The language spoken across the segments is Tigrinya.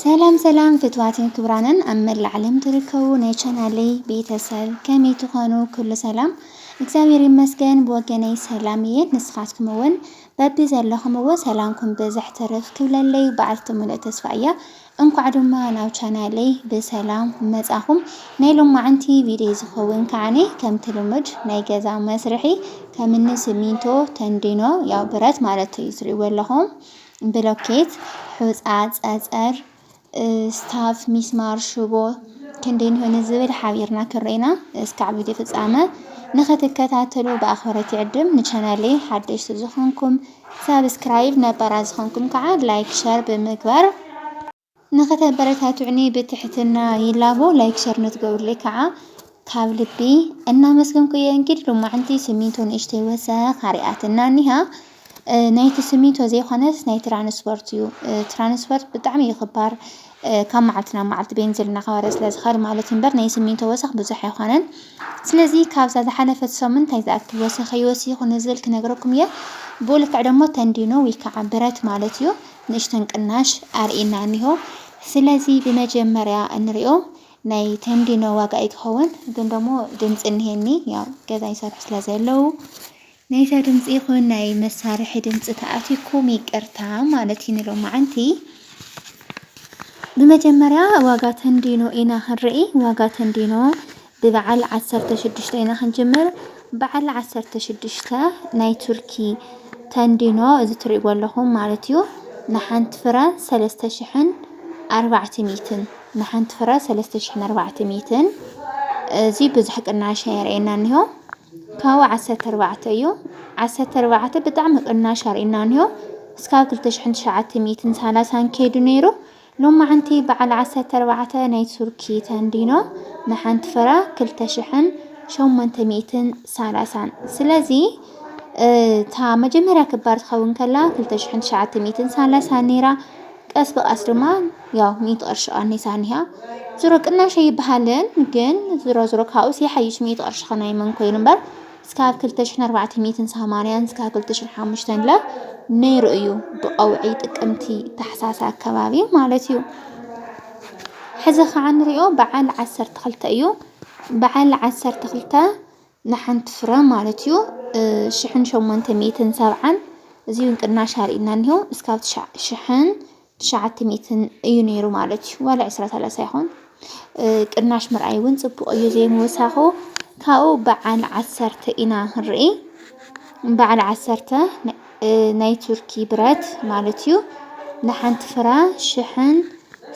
ሰላም ሰላም ፍትዋትን ክብራንን ኣብ መላእ ዓለም ትርከቡ ናይ ቻናለይ ቤተሰብ ከመይ ትኾኑ? ኩሉ ሰላም እግዚኣብሔር ይመስገን ብወገነይ ሰላም እየ። ንስኻትኩም እውን በቢ ዘለኹምዎ ሰላምኩም ብዝሕ ትርፍ ክብለለይ በዓልቲ ሙሉእ ተስፋ እያ። እንኳዕ ድማ ናብ ቻናለይ ብሰላም መጻኹም። ናይ ሎማዓንቲ ቪድዮ ዝኸውን ከዓኒ ከምቲ ልሙድ ናይ ገዛ መስርሒ ከምኒ ሲሚንቶ፣ ተንዲኖ ያው ብረት ማለት እዩ ትሪእዎ ኣለኹም ብሎኬት፣ ሑጻ፣ ጸጸር፣ ስታፍ፣ ሚስማር፣ ሽቦ ክንደይ ንሆ ንዝብል ሓቢርና ክርኤና እስካዕ ቪድዮ ፍጻመ ንክትከታተሉ ብኣኽብሮት ይዕድም። ንቻናለይ ሓደሽቲ ዝኾንኩም ሳብስክራይብ፣ ነባራት ዝኾንኩም ከዓ ላይክ ሸር ብምግባር ንክተበረታቱዑኒ ብትሕትና ይላቦ ላይክ ሸር ንትገብሩለይ ከዓ ካብ ልቢ እናመስገንኩ እየ እንግዲህ ሎማዕንቲ ስሚንቶ ንእሽተይ ወሰኽ ኣሪኣትና እኒሃ ናይቲ ስሚንቶ ዘይኮነስ ናይ ትራንስፖርት እዩ ትራንስፖርት ብጣዕሚ እዩ ክባር ካብ መዓልቲ ናብ መዓልቲ ቤንዚል እናኸበረ ስለ ዝኸድ ማለት እምበር ናይ ስሚንቶ ወሰኽ ብዙሕ ኣይኮነን ስለዚ ካብዛ ዝሓለፈት ሰሙን እንታይ ዝኣክል ወሰኸ ይወሲኹ ንዝብል ክነግረኩም እየ ብኡ ልክዕ ደግሞ ተንዲኖ ወይ ከዓ ብረት ማለት እዩ ንእሽተን ቅናሽ ኣርእይና እኒሆ ስለዚ ብመጀመርያ እንሪኦ ናይ ተንዲኖ ዋጋ እዩ ትኸውን ግን ደሞ ድምፂ እኒሄኒ ያው ገዛ ይሰርሑ ስለ ዘለው ናይዛ ድምፂ ይኹን ናይ መሳርሒ ድምፂ ተኣትኩም ይቅርታ ማለት እዩ ንሎማዓንቲ ብመጀመርያ ዋጋ ተንዲኖ ኢና ክንርኢ ዋጋ ተንዲኖ ብበዓል ዓሰርተ ሽዱሽተ ኢና ክንጅምር በዓል ዓሰርተ ሽዱሽተ ናይ ቱርኪ ተንዲኖ እዚ ትሪእዎ ኣለኹም ማለት እዩ ንሓንቲ ፍረ ሰለስተ ሽሕን ኣርባዕተ ሚእትን ንሓንቲ ፍረ ሰለስተ ሽሕን ኣርባዕተ ሚእትን እዚ ብዙሕ ቅናሽ ኣየርእየና እኒሆ ካብኡ ዓሰርተ ኣርባዕተ እዩ ዓሰርተ ኣርባዕተ ብጣዕሚ ቅናሽ ኣርእየና እኒሆ እስካብ ክልተ ሽሕን ትሽዓተ ሚእትን ሰላሳን ከይዱ ነይሩ ሎማዕንቲ በዓል ዓሰርተ ኣርባዕተ ናይ ቱርኪ ተንዲኖ ንሓንቲ ፍረ ክልተ ሽሕን ሸሞንተ ሚእትን ሳላሳን ስለዚ እታ መጀመርያ ክባር ትኸውን ከላ ክልተ ሽሕን ትሽዓተ ሚእትን ሳላሳን ነይራ ቀስ ብቀስ ድማ ያው ሚእቲ ቅርሺ ቀኒሳ እኒሃ ዝሮ ቅናሽ ኣይበሃልን ግን ዝሮ ዝሮ ካብኡስ ይሓይሽ ሚእቲ ቅርሺ ከናይ መን ኮይኑ እምበር ስካብ ክልተ ሽሕን ኣርባዕተ ሚእትን ሰማንያን ስካብ ክልተ ሽሕን ሓሙሽተን ለ ነይሩ እዩ ብቀውዒ ጥቅምቲ ታሕሳስ ኣከባቢ ማለት እዩ ሕዚ ከዓ ንሪኦ በዓል ዓሰርተ ክልተ እዩ በዓል ዓሰርተ ክልተ ንሓንቲ ፍረ ማለት እዩ ሽሕን ሸሞንተ ሚእትን ሰብዓን እዚ እውን ቅናሽ ኣርእና እኒሆ እስካብ ትሻ- ሽሕን ትሽዓተ ሚእትን እዩ ነይሩ ማለት እዩ ዋላ ዕስራ ሰላሳ ይኹን ቅናሽ ምርኣይ እውን ፅቡቕ እዩ ዘይምውሳኹ ካብኡ በዓል ዓሰርተ ኢና ክንርኢ በዓል ዓሰርተ ናይ ቱርኪ ብረት ማለት እዩ ንሓንቲ ፍረ ሽሕን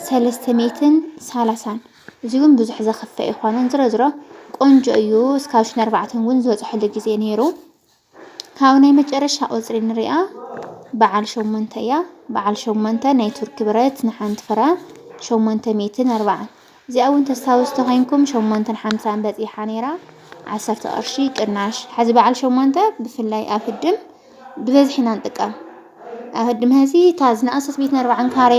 ሰለስተ ሚእትን ሰላሳን እዚ እውን ብዙሕ ዘኽፍእ ኣይኮነን ዝሮ ዝሮ ቆንጆ እዩ እስካብ ሽን ኣርባዕተን እውን ዝበፅሐሉ ግዜ ነይሩ ካብ ናይ መጨረሻ ቁጽሪ ንሪኣ በዓል ሸሞንተ እያ። በዓል ሸሞንተ ናይ ቱርኪ ብረት ንሓንቲ ፍረ ሸሞንተ ሚእትን ኣርባዓን እዚኣ እውን ተስታውስ ተኮይንኩም ሸሞንተን ሓምሳን በጺሓ ነይራ ዓሰርተ ቅርሺ ቅናሽ። ሕዚ በዓል ሸሞንተ ብፍላይ ኣብ ህድም ብበዝሒ ኢና ንጥቀም። ኣብ ህድም ሕዚ እታ ዝነኣሰት ሚእትን ኣርባዓን ካሬ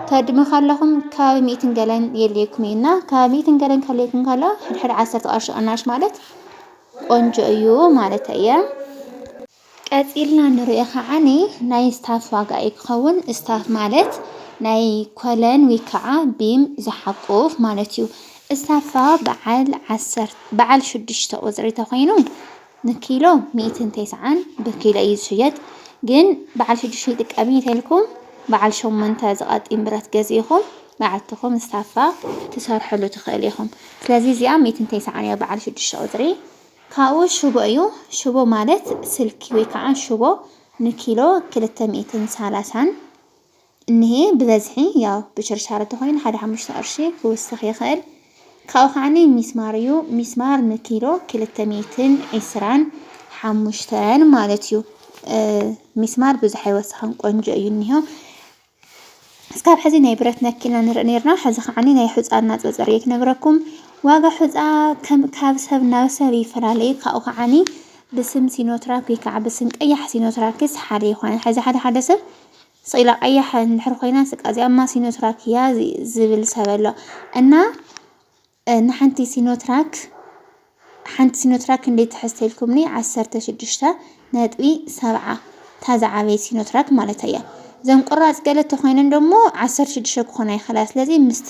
ተድሚ ከለኹም ከባቢ ሚእትን ገለን የድልየኩም እዩ እና ከባቢ ሚእትን ገለን ከልየኩም ከሎ ሕድሕድ ዓሰርተ ቅርሺ ቅናሽ ማለት ቆንጆ እዩ ማለት እየ። ቀጺልና ንሪኦ ከዓኒ ናይ ስታፍ ዋጋ እዩ ክኸውን። ስታፍ ማለት ናይ ኮለን ወይ ከዓ ቢም ዝሓቁፍ ማለት እዩ። ስታፋ በዓል ዓሰርተ በዓል ሽዱሽተ ቁፅሪ ተኾይኑ ንኪሎ ሚእትን ተስዓን ብኪሎ እዩ ዝሽየጥ። ግን በዓል ሽዱሽተ ይጥቀም እየ ተልኩም በዓል ሸሞንተ ዝቐጢን ብረት ገዚእኹም በዓልትኹም ስታፋ ትሰርሕሉ ትኽእሉ ኢኹም ስለዚ እዚኣ ሚእቲ እንተይ ሰዓን እያ በዓል ሽዱሽተ ቁፅሪ ካብኡ ሽቦ እዩ ሽቦ ማለት ስልኪ ወይ ከዓ ሽቦ ንኪሎ ክልተ ሚእትን ሰላሳን እኒሄ ብበዝሒ ያው ብሽርሻር እንተኾይኑ ሓደ ሓሙሽተ ቅርሺ ክውስኽ ይኽእል ካብኡ ከዓኒ ሚስማር እዩ ሚስማር ንኪሎ ክልተ ሚእትን ዒስራን ሓሙሽተን ማለት እዩ ሚስማር ብዙሕ ኣይወስኽን ቆንጆ እዩ እኒሆ እስካብ ሕዚ ናይ ብረት ነክ ኢና ንርኢ ነርና ሕዚ ከዓኒ ናይ ሑጻ እናጸጸርየ ክነግረኩም ዋጋ ሑጻ ከም ካብ ሰብ ናብ ሰብ ይፈላለዩ ካብኡ ከዓኒ ብስም ሲኖትራክ ወይ ከዓ ብስም ቀያሕ ሲኖትራክስ ሓደ ይኾነ ሕዚ ሓደ ሓደ ሰብ ስኢላ ቀያሕ እንድሕር ኮይና ስቃ እዚኣማ ሲኖትራክ እያ ዝብል ሰብ ኣሎ እና ንሓንቲ ሲኖትራክ ሓንቲ ሲኖትራክ ክንደይ ትሕዝ ተልኩምኒ ዓሰርተ ሽዱሽተ ነጥቢ ሰብዓ እታ ዝዓበየት ሲኖትራክ ማለተይ እያ እዘን ቁራጽ ገለ ተኾይነን ደሞ ዓሰርተ ሽዱሽተ ክኾና ይኽእላ ስለዚ ምስቲ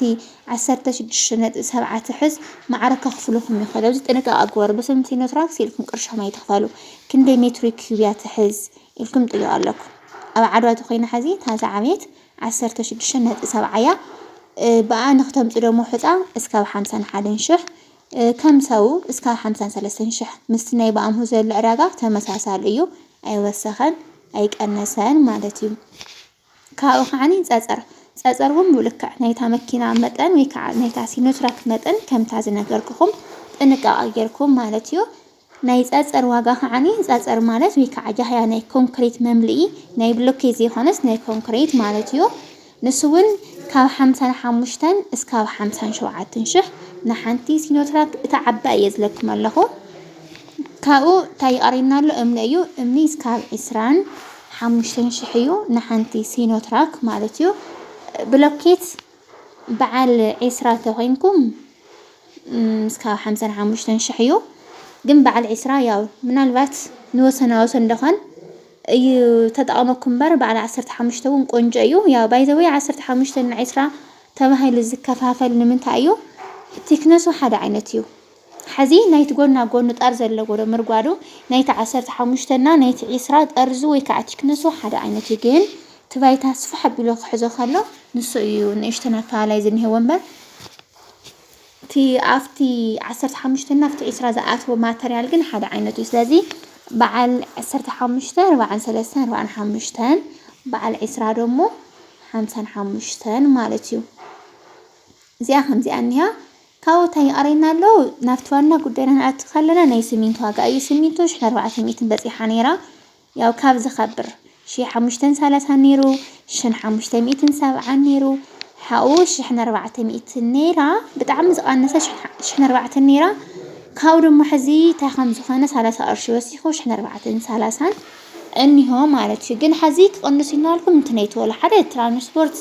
ዓሰርተ ሽዱሽተ ነጥቢ ሰብዓ ትሕዝ ማዕረ ከኽፍሉኹም ይኽእሉ ኣብዚ ጥንቃቐ ግበሩ በስም ሲኖትራክስ ኢልኩም ቅርሽኹም ኣይትኽፈሉ ክንደይ ሜትሪክ ክዩብ እያ ትሕዝ ኢልኩም ጥይቕ ኣለኩም ኣብ ዓድዋ ተኾይና ሕዚ እታ ዝዓበየት ዓሰርተ ሽዱሽተ ነጥቢ ሰብዓ እያ ብኣ ንክተምጹ ደሞ ሑጻ እስካብ ሓምሳን ሓደን ሽሕ ከም ሰው እስካብ ሓምሳን ሰለስተን ሽሕ ምስቲ ናይ ብኣምሁ ዘሎ ዕዳጋ ተመሳሳሊ እዩ ኣይወሰኸን ኣይቀነሰን ማለት እዩ ካብኡ ከዓኒ ጸጸር ጸጸር እውን ብልክዕ ናይታ መኪና መጠን ወይ ከዓ ናይታ ሲኖትራክ መጠን ከምታ ዝነገርኩኹም ጥንቃቐ ጌርኩም ማለት እዩ ናይ ጸጸር ዋጋ ከዓኒ ጸጸር ማለት ወይ ከዓ ጃህያ ናይ ኮንክሪት መምልኢ ናይ ብሎኬት ዘይኮነስ ናይ ኮንክሪት ማለት እዩ። ንሱ እውን ካብ ሓምሳን ሓሙሽተን እስካብ ሓምሳን ሸውዓትን ሽሕ ንሓንቲ ሲኖትራክ እታ ዓባይ እየ ዝለኩም ኣለኹ። ካብኡ እንታይ ይቐርየና ኣሎ እምኒ እዩ። እምኒ እስካብ ዕስራን ሓሙሽተን ሽሕ እዩ ንሓንቲ ሲኖትራክ ማለት እዩ። ብሎኬት በዓል ዕስራ ተኮይንኩም እስካብ ሓምሳን ሓሙሽተን ሽሕ እዩ ግን በዓል ዕስራ ያው ምናልባት ንወሰና ወሰን ደኾን እዩ ተጠቐመኩም እምበር በዓል ዓሰርተ ሓሙሽተ እውን ቆንጆ እዩ። ያው ባይዘወይ ዓሰርተ ሓሙሽተን ዕስራ ተባሂሉ ዝከፋፈል ንምንታይ እዩ? ቲክነሱ ሓደ ዓይነት እዩ። ሐዚ ናይቲ ጎና ጎኑ ጣር ዘለዎ ዶ ምርጓዱ ናይቲ ዓሰርተ ሓሙሽተ እና ናይቲ ዒስራ ጠርዙ ወይ ከዓ ቲክነሱ ሓደ ዓይነት እዩ ግን እቲ ባይታ ስፍሕ ኣቢሉ ክሕዞ ከሎ ንሱ እዩ ንእሽተን ኣፈላላይ ዝኒሀዎ እምበር እቲ ኣብቲ ዓሰርተ ሓሙሽተ እና ኣብቲ ዒስራ ዝኣትዎ ማተርያል ግን ሓደ ዓይነት እዩ ስለዚ በዓል ዓሰርተ ሓሙሽተ ርብዓን ሰለስተን ርብዓን ሓሙሽተን በዓል ዒስራ ደሞ ሓምሳን ሓሙሽተን ማለት እዩ እዚኣ ከምዚኣ እኒኣ ካብኡ ታይ ይቀረየና ኣሎ ናብቲ ዋና ጉዳይና ክንኣቱ ከለና ናይ ስሚንቶ ዋጋ እዩ ስሚንቶ ሽሕ ኣርባዕተ ሚእትን በፂሓ ነይራ ያው ካብ ዝከብር ሽሕ ሓሙሽተን ሳላሳን ነይሩ ሽን ሓሙሽተ ሚእትን ሰብዓን ነይሩ ሓኡ ሽሕን ኣርባዕተ ሚእትን ነይራ ብጣዕሚ ዝቀነሰ ሽሕን ኣርባዕተን ነይራ ካብኡ ድማ ሕዚ ታይ ከም ዝኮነ ሳላሳ ቅርሺ ወሲኩ ሽሕን ኣርባዕተን ሳላሳን እኒሆ ማለት እዩ ግን ሐዚ ክቕንሱ ኢልናልኩም እንትነይቱ ወላ ሓደ ትራንስፖርት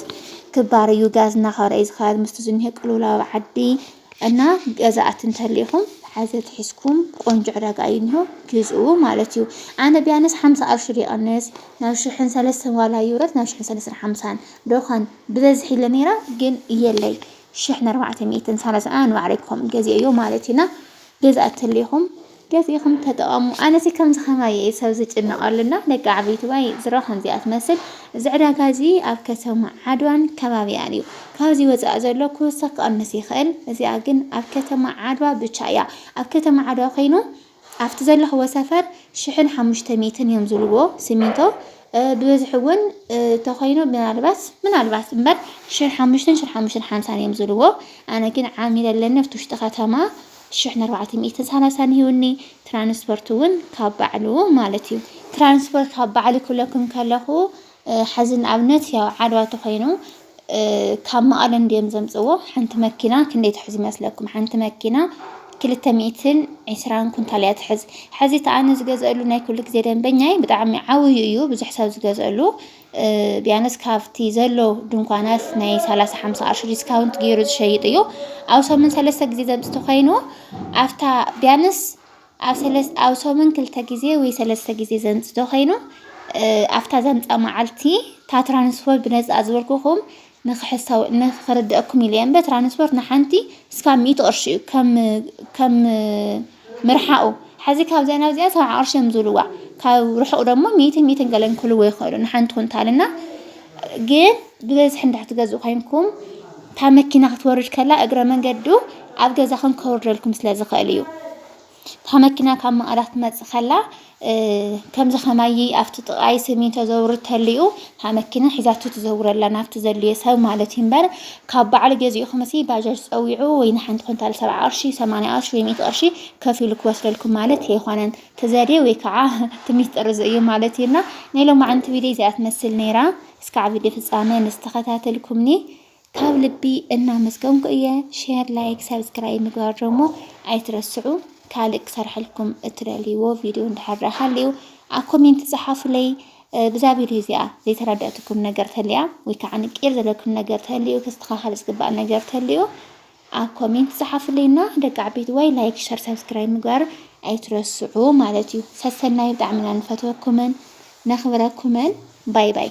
ክባር እዩ ጋዝ እናኸበረ እዩ ዝኸያድ ምስቲ ዝኒሀ ቅልውላው ኣብ ዓዲ እና ገዛእቲ እንተሊኢኹም ሐዚ ትሒዝኩም ቆንጆ ዕዳጋ እዩ እኒሆ ግዝኡ ማለት እዩ ኣነ ቢያንስ ሓምሳ ኣሽር ይቐንስ ናብ ሽሕን ሰለስተን ዋላ ይውረድ ናብ ሽሕን ሰለስተን ሓምሳን ዶኻን ብበዝሒ ኢለ ነይራ ግን የለይ ሽሕን ኣርባዕተ ሚእትን ሰላሳን ኣነ ንባዕለይ ከም ገዚኦዮ ማለት እዩና ገዛእቲ እንተሊኢኹም ገዚእኹም ተጠቐሙ ኣነሲ ከምዚ ከማይ እየ ሰብ ዝጭነቐሉ እና ደቂ ዓበይትዋይ ዝሮ ከምዚኣ ትመስል እዚ ዕዳጋ እዚ ኣብ ከተማ ዓድዋን ከባቢኣን እዩ ካብዚ ወፃኢ ዘሎ ክውሰኽ ክቐንስ ይኽእል እዚኣ ግን ኣብ ከተማ ዓድዋ ብቻ እያ ኣብ ከተማ ዓድዋ ኮይኑ ኣብቲ ዘለኽዎ ሰፈር ሽሕን ሓሙሽተ ሚትን እዮም ዝብልዎ ሲሚንቶ ብበዝሒ እውን ተኮይኑ ምናልባት ምናልባት እምበር ሽር ሓሙሽተን ሽር ሓሙሽተን ሓምሳን እዮም ዝብልዎ ኣነ ግን ዓሚለ ኣለኒ ኣብቲ ውሽጢ ከተማ ሽሕ ን ኣርባዕተ ሚእትን ሰላሳን ሂቡኒ ትራንስፖርት ውን ካብ ባዕሉ ማለት እዩ። ትራንስፖርት ካብ ባዕሉ ክብለኩም ከለኹ ሐዚ ንኣብነት ያው ዓድዋ ተኾይኑ ካብ መቐለ እንድዮም ዘምፅዎ ሓንቲ መኪና ክንደይ ትሕዝ ይመስለኩም? ሓንቲ መኪና ክልተ ሚእትን ዒስራን ኩንታል እያ ትሕዝ። ሐዚ እቲ ኣነ ዝገዝአሉ ናይ ኩሉ ግዜ ደንበኛይ ብጣዕሚ ዓብዩ እዩ ብዙሕ ሰብ ዝገዝአሉ ቢያንስ ካብቲ ዘሎ ድንኳናት ናይ ሰላሳ ሓምሳ ቅርሺ ዲስካውንት ገይሩ ዝሸይጥ እዩ ኣብ ሰሙን ሰለስተ ግዜ ዘምፅቲ ኮይኑ ኣብታ ቢያንስ ኣብ ሰለስ ኣብ ሰሙን ክልተ ግዜ ወይ ሰለስተ ግዜ ዘምፅቶ ኮይኑ ኣብታ ዘምፃ መዓልቲ እታ ትራንስፖርት ብነፃ ዝበልኩኹም ንክሕሳዊ ንክርደኣኩም ኢለ እምበር ትራንስፖርት ንሓንቲ እስካብ ሚእቲ ቅርሺ እዩ ከም ከም ምርሓቁ ሐዚ ካብዚኣ ናብዚኣ ሰብዓ ቅርሺ እዮም ዝብልዋ ካብ ርሑቅ ደግሞ ሚእትን ሚእትን ገለን ክህልዎ ይኽእሉ ንሓንቲ ኩንታል እና ግን ብበዝሒ እንድሕር ትገዝኡ ኮይንኩም እታ መኪና ክትወርድ ከላ እግረ መንገዱ ኣብ ገዛኹም ከውርደልኩም ስለ ዝኽእል እዩ እታ መኪና ካብ መቐለ ክትመጽእ ከላ ከምዚ ከማይ ኣብቲ ጥቓይ ስሚንቶ ዘውርድ ተሊኡ እታ መኪና ሒዛቶ ትዘውር ኣላ ናብቲ ዘድልዮ ሰብ ማለት እዩ እምበር ካብ በዓል ገዚእኹምሲ ባጃጅ ጸዊዑ ወይ ንሓንቲ ኩንታል ሰብዓ ቅርሺ ሰማንያ ቅርሺ ወይ ሚእቲ ቅርሺ ከፊሉ ክወስደልኩም ማለት ኣይኮነን እቲ ዘድዮ ወይ ከዓ እቲ ሚስጥር እዚ እዩ ማለት እዩና ናይ ሎማዕንቲ ቪድዮ እዚኣ ትመስል ነይራ እስካዕ ቪድዮ ፍጻሜ ምስ ተኸታተልኩምኒ ካብ ልቢ እናመስገንኩ እየ። ሼር፣ ላይክ፣ ሰብስክራይብ ምግባር ደሞ ኣይትረስዑ። ካልእ ክሰርሐልኩም እትደልይዎ ቪድዮ እንድሕር ደኣ ሃልዩ ኣብ ኮሜንት ጸሓፉለይ። ብዛ ቪድዮ እዚኣ ዘይተረዳእትኩም ነገር ተልያ ወይ ከዓ ንቂር ዘለኩም ነገር ተልዩ ክስተኻኸል ዝግባእ ነገር ተልዩ ኣብ ኮሜንት ጸሓፉለይና ደቂ ዓበይቲ ወይ ላይክ ሸር ሰብስክራይብ ምግባር ኣይትረስዑ ማለት እዩ ሰሰናዩ ብጣዕሚ ኢና ንፈትወኩምን ነኽብረኩምን ባይ ባይ